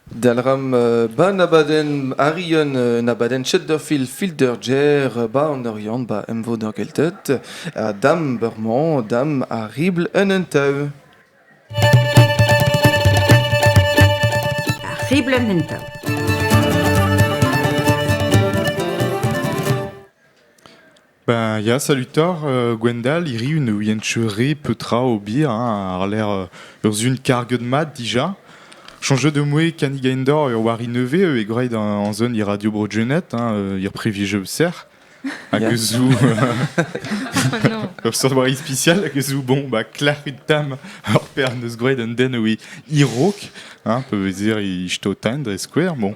Dalc'hamp an abadenn Arian, un abadenn Chesterfield Fielder Jer 'ba an Oriant 'ba Emvod ar Gelted. Ha dam bremañ, dam ar ribl en un tav. Ar ribl en un tav. Ben ya, salutoc'h euh, Gwendal, hiriv ne ouien re petra ober hein, àr-lerc'h ur sun karget mat dija. Chañjet de moe kanigaindor ur wari nevez euh, e gwraet an zon e Radio Brogenet, hein, euh, ir privilegio serc'h. Hag yeah. zou... ur sortwari spécial, hag zou, bon, bah, klarit tam ar per neus gwraet un den oe irok, hein, peu vezir i jto tain dre skouer, bon.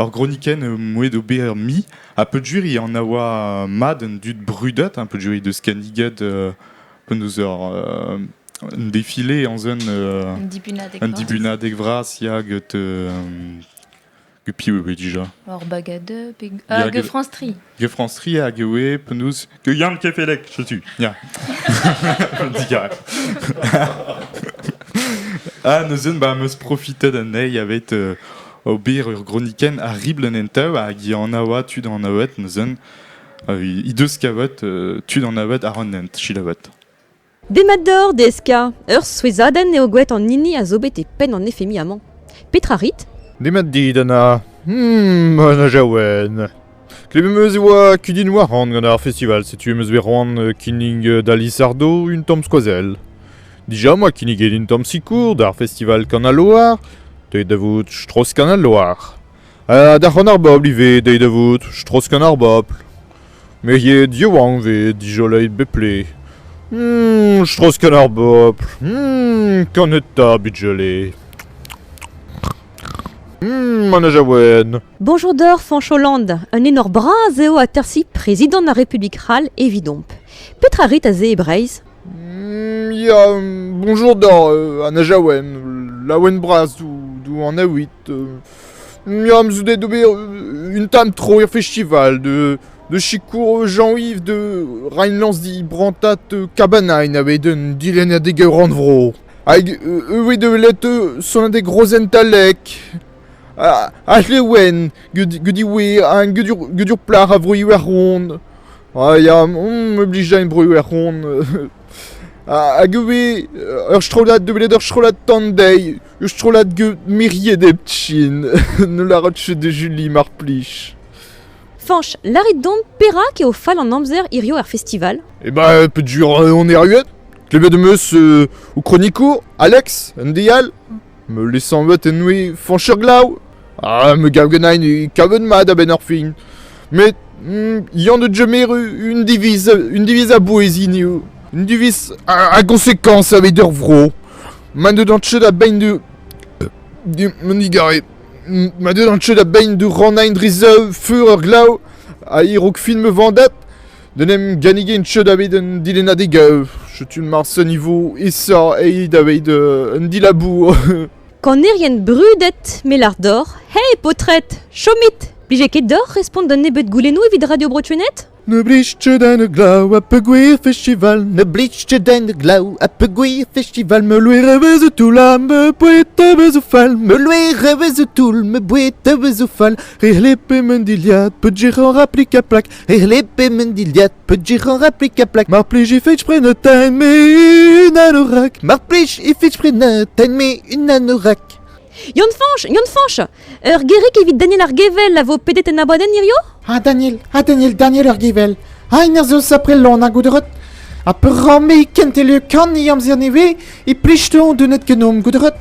Ur gronikenn moued ober mi ha peudjuri an a oa mat an dud brudet ha peudjuri deus kanniged uh, penaos ur uh, un défilé en un uh, un dibunadeg un dibunadeg vras ya get uh, get piv e déjà Or bagadeux hag France Tri Geoffrance Ria hag e oe penaos que Yann Kefelec, je suis. Ya. Digarez. ah, neuzen, ba, meus profitet anezhi aveit euh, ober ur groniken a ribl an entav hag i anaoa tud an avet neuzen. He deus kavet euh, tud an avet ar an hent, chilavet. Demat deoc'h, DSK. Ur souezhadenn eo gwelet an hini a zo bet e penn an FMI amañ. Petra rit? Demat dit, Anna. Hmm, Anna Jaouen. Klevemp eus e oa kudenn waran gant ar festival, setu em eus bet roan euh, kinnig euh, da Lisardo un tamm skoazell. Dija oa kinniget un tamm sikour d'ar festival Kanaloar, deuet da vout Strauss Kanaloar. Ha da c'hon ar bobl ivez dezhi da vout Stroskan ar bobl. Meriet yaouank 'vez dijoleiet bepred. Mmm, Stroskan ar bobl. Mmm, kaneta bijole. Mmm, an ajawen. Bonjour d'or, Fanch Hollande. Un enor bras eo atersi prezidant ar Republik C'hall evidomp. Petra rit aze e Breizh mm, Ya, bonjour d'or, euh, an ajawen, laouen bras d'ou, d'ou an aouit. Euh, Miam zo deuet d'ober un tamm tro er festival de de sikour Jean-Yves de Rheinlands-Di brantad Kabanain a-bet un dilennadeg rannvro. Hag e voe deuet sonadeg rozentalek ha c'hlewen gant iwe hag gant ur plac'h a vro Iwerzhon. Ha ya, me blij da bro Iwerzhon. Hag e voe ur strollad deuet ur strollad tandei Ur strollad miriet heptin ne lârat ket da Juli, mar plij. Fañch, lârit domp perak eo fall an amzer hirio er festival Eh bah, euh, pedur on erruet Klevet am eus euh, ho kronikour, Alex, un dial Me lesanvet en oe Fañch Glav Ah, me gav genain e kavet mat a-benn ar fin Met, mm, yan de jemeru un diviz, un diviz a bouez iniu Un diviz a, a gonsekans aveit ur vro Ma deu d'an teu da bein du... du... an digare. Ma deu d'an teu da bein du rannain dre zaou fur ur glav a irok fin ma vandat d'en em gannigen teu da bet un dilennadeg euh, Setu mars un niveau esa e da bet euh, un dilabour. Kanerien brudet, melar dor, hé, potret, chomit! Blije ket dor respont d'un nebeut goulennoù evit Radio Brotsunet? Ne blij kudenn e glav ha peogwir festival Ne blij kudenn e glav ha peogwir festival Me loer e vez o toull ha me boued a vez o fall Me loer e vez o toull me boued a vez o fall Re lepe men dilhad peudjir en raplik a plak Re lepe men dilhad peudjir en raplik a plak Mar plij ifit pren o time me un anorak Mar plij ifit pren o time me un anorak Yann Fanch, Yann Fanch Ur gerreg evit Daniel ar Gevel a vo pedet en abladenn hirio? Ha Daniel, ha Daniel, Daniel ar Gevel Ha en ur zeus apre lon a goudrot Ha peramme e kentele kan e amzer nevez E plichton denet genom goudrot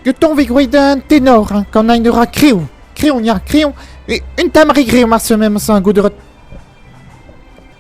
Geton ve gwreit un tenor Kan ain ra kreoù Kreoñ ya, kreoñ E un tamari greoñ ar semen sa goudrot